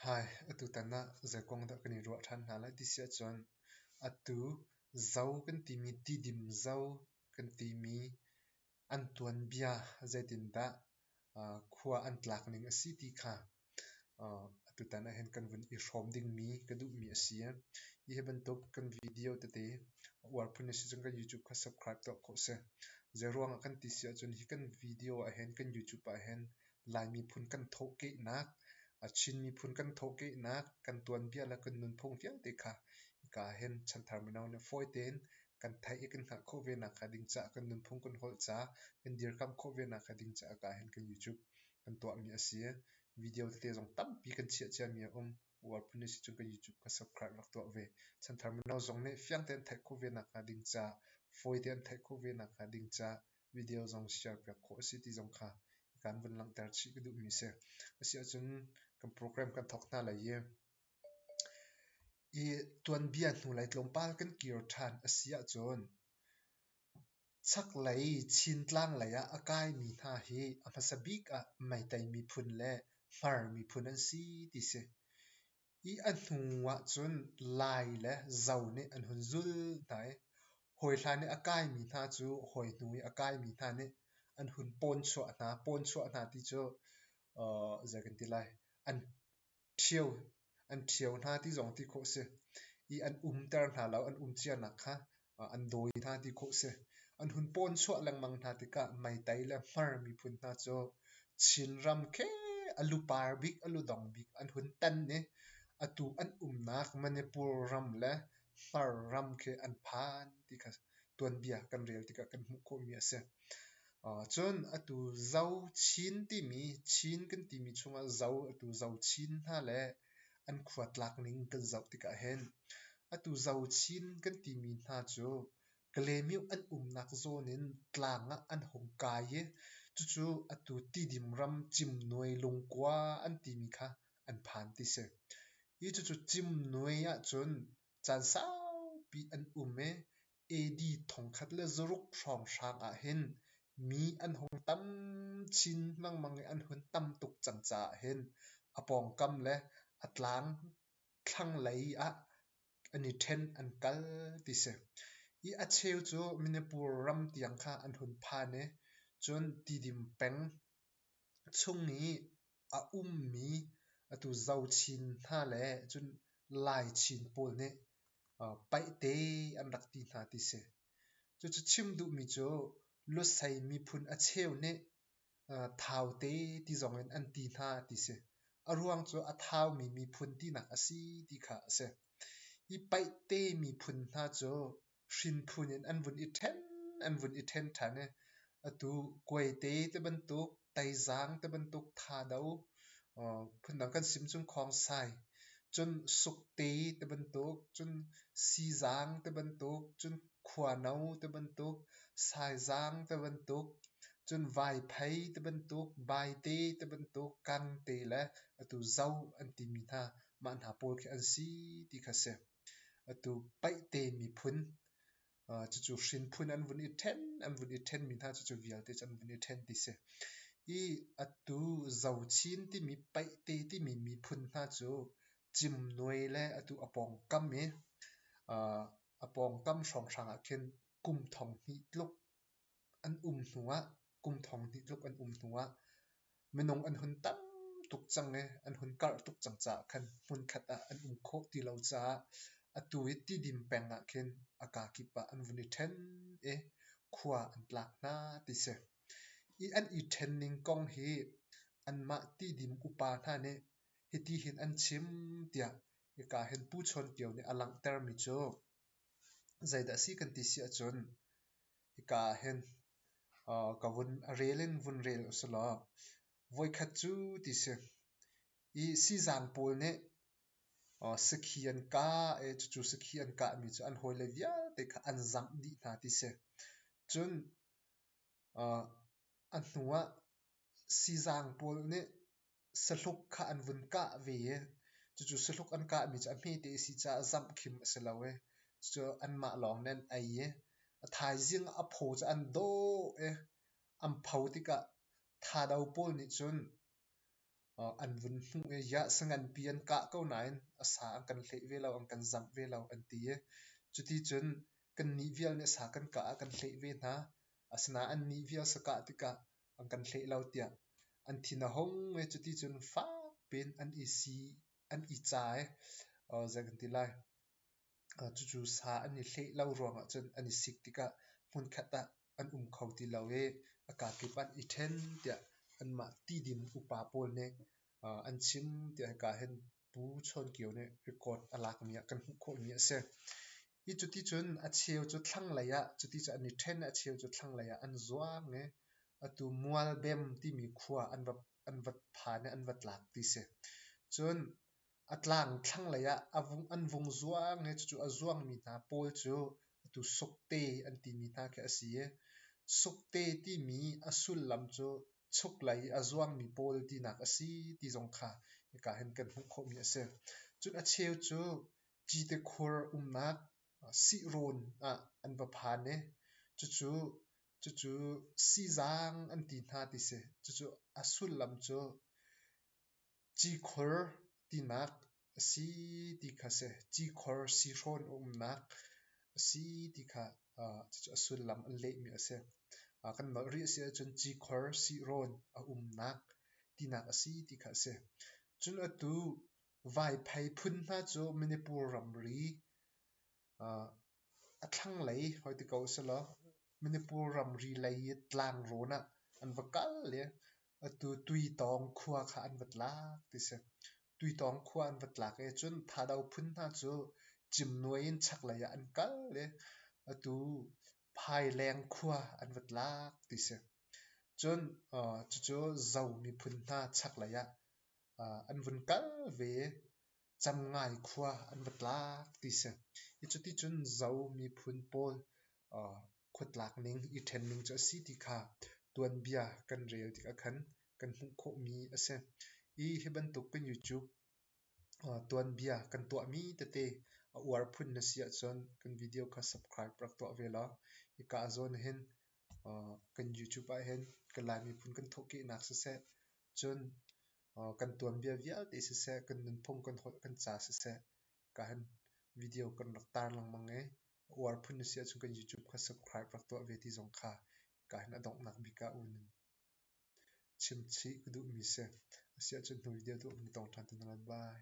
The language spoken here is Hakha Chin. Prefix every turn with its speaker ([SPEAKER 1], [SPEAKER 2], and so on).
[SPEAKER 1] Hi, atutan ah zeikuang dah kan i ruah ṭhan hna lai ti si ahcun, atu zo kan timi tidim zo kan timi an tuanbia zeitindah khua an tlak ning a si ti kha atutan ahhin kan vun i hrawm dingmi ka duhmi a si. Hi hi bantuk kan video tete a uar phun a si cun kan YouTube kha subscribe tuah ko seh. Zeiruangah kan ti si ahcun hi kan video ahhin kan YouTube ahhin Lai miphun kan thawhkehnak, a Chin miphun kan thawhkehnak, kan tuanbia le kan nunphung vialte kha hika ahhin chanthar mino nih fawi tein kan theih i kan hngalh khawh ve nakhnga ding caah kan nunphung kan holh caah kan dirkamh khawh ve nakhnga ding caah hika ahhin kan YouTube kan tuahmi a si. Video tete zong tampi kan chiah ciami a um. World Police cu ka YouTube ka subscribe rak tuah ve. Chanthar mino zong nih fiang tein theih khawh ve nakhnga ding ca, fawi tein theih khawh ve nakhnga ding ca, video zong share piak khawh a si ti zong kha kan vun langhter chih ka duhmi a si. A si ahcun kan program kan thawk hna lai i, i tuanbia hnu lei tlawmpal kan kir ṭhan a si ahcun Chaklei Chin tlang lei ah a kaimi hna hi a hmasa bik ah Meitei miphun le Hmar miphun an si ti si. I a hnu ahcun Lai le Zo nih an hun zul hna i hawi hla nih a kaimi hna cu hawi hnu i a kaimi hna nih an hun pawnchuah hna. Pawnchuah hna ti cu, aa zei kan ti lai, an ṭhio, an ṭhio hna ti zong ti khawh si i an umter hna lo, an um cianak kha an dawi hna ti khawh si. An hun pawn chuah lengmang hna tikah meitai le hmar miphun hna cu Chinram khi a lu par bik, a lu dong bik an hun tan i atu an umnak Manipur ram le Hmar ram khi an phan ti kha tuanbia kan rel tikah kan hmuh khawhmi a si. Cun atu Zo Chin timi Chin kan timi chungah Zo atu Zo Chin hna le an khua tlak ning kan zoh tikah hin atu Zo Chin kan timi hna cu Klemyo an umnak zawn in tlang ah an hung kai i cucu atu Tidim ram Cimnuai lungkua an timi kha an phan ti si. Hi cucu Cimnuai ahcun caan saupi an um i AD thongkhat le zaruk hrawnghrang ahhin mi an hung tam chin lengmang i an hun tam tuk cang caah hin a pawngkam le a tlang thlanglei ah an i ṭhen an kal ti si. I a cheu cu Manipur ram tiang kha an hun phan i cun Tidim peng Chung i a ummi atu zochin hna le cun laichin pawl nih paihte an rak ti hna ti si. Cucu chim duhmi cu Lusei miphun a cheu nih Thaute ti zongin an ti hna ti si. A ruang cu a thaumi miphun tinak a si ti kha a si. Hi paihte miphun hna cu hrinphun in an vun i ṭhen an vun i ṭhen ṭhan i atu kuaite te bantuk taizaang te bantuk thado phundang kan sim cun khongsai cun sukte te bantuk cun sizaang te bantuk cun khuano te bantuk saizaang te bantuk cun vaiphei te bantuk baite te bantuk kangte le atu zo an timi hna mah hna pawl khi an si ti kha a si Atu paihte miphun, cucu hrinphun an vun i ṭhen, an vun i ṭhen mi hna cucu vialte cu an vun i ṭhen ti si. I atu Zochin timi paihte timi miphun hna cu cimnuai le atu a pawngkam i a pawngkam hrawnghrang ah khin kum thong hnih tluk an um hnu ah kum thong hnih tluk an um hnu ah minung an hun tam tuk cang i an hun karh tuk cang caah khan hmunkhat ah an um khawh ti lo caah atu i tidim peng ah khin a kaa kip ah an vun i ṭhen i khua an tlak hna ti si. Hi an i ṭhen ning kong hi anmah tidim upa hna nih hiti hin an chim tiah hika hin Pu Chawn Tio nih a langhter mi cu zeidah a si kan ti si ahcun Hika ah hin ka vun rel in vun rel usilaw voikhat cu ti si. I sizaan pawl nih sakhi an kah i cucu sakhi an kahmi cu an hawile vialte kha an zangh dih hna ti si. Cun a hnu ah sizang pawl nih sahluk kha an vun kah ve i cucu sahluk an kahmi cu a hmete a si caah zamh khim a si lo i cucu anmah lawng nih an ei i a thaizing a phaw cu an dawh i an pho tikah thado pawl nih cun an vun hmuh i yahsa nganpi an kah ko nain a sa an kan hleih ve lo an kan zamh ve lo an ti i cuti cun kannih vial nih a sa kan kah ah kan hleih ve hna asinain annih vial sa kah tikah an kan hleih lo tiah an thin a hung i cuti cun fak piin an i sii an i ca i uh, zei kan ti lai uh, cucu sa an i hleh lo ruangah cun an i sik tikah hmunkhat ah an um kho ti lo i a kaa kip ah i ṭhen tiah anmah tidim upa pawl nih uh, an chim tiah hika hin Pu Chawn Kio nih record a lakmi ah kan hmuh khawhmi a si. Hi cuti cun a cheu cu thlanglei ah cuti cu an i ṭhen i a cheu cu thlanglei ah an zuang i atu Mualbem timi khua an va an va phan i an va tlak ti si. Cun a tlang thlanglei ah a vung an vung zuang i cucu a zuangmi hna pawl cu Atu sukte an timi hna khi a si i, sukte timi a sullam cu chuklei i a zuangmi pawl tinak a si ti zong kha hika hin kan hmuh khawhmi a si. Cun a cheu cu citekhur umnak sihrawn ah an va phan i, cucu cucu siizang an ti hna ti si. Cucu a sullam cu Cikhor tinak a si ti kha a si. Cikhor sihrawn a umnak a si ti kha cucu a sullam a lehmi a si. Kan nolh rih a si ahcun cikhor sihrawn a umnak tinak a si ti kha a si. Cun atu Vaiphei phun hna cu Manipur ramri a thlanglei hoi ti ko selaw Manipur ramri lei i tlangrawn ah an va kal i Atu tuitawng khua kha an va tlak ti si. Tuitawng khua an va tlak i cun thado phun hna cu cimnuai in chaklei ah an kal i atu phaileng khua an va tlak ti si. Cun cucu zo miphun hna chaklei ah an vun kal ve i Camngai khua an va tlak ti si. Hi cuti cun zo miphun pawl khuatlak ning i ṭhen ning cu a si ti kha tuanbia kan rel tikah khan kan hmuh khawhmi a si. Hi hi bantuk in YouTube tuanbia kan tuahmi tete a uar phun na si ahcun kan video kha subscribe rak tuah ve law hika ah zawn hin kan YouTube ah hin kan Lai miphun kan thawhkehnak siseh cun kan tuanbia vialte siseh kan nunphung kan holh kan ca siseh ka han video kan rak tar lengmang i A uar phun na si ahcun kan YouTube kha subscribe rak tuah ve ti zong kha ka hin a donghnak bik ah um in chim chih ka duhmi si. A si ahcun hnu video tu um tong ṭhan te hna lai. Bye.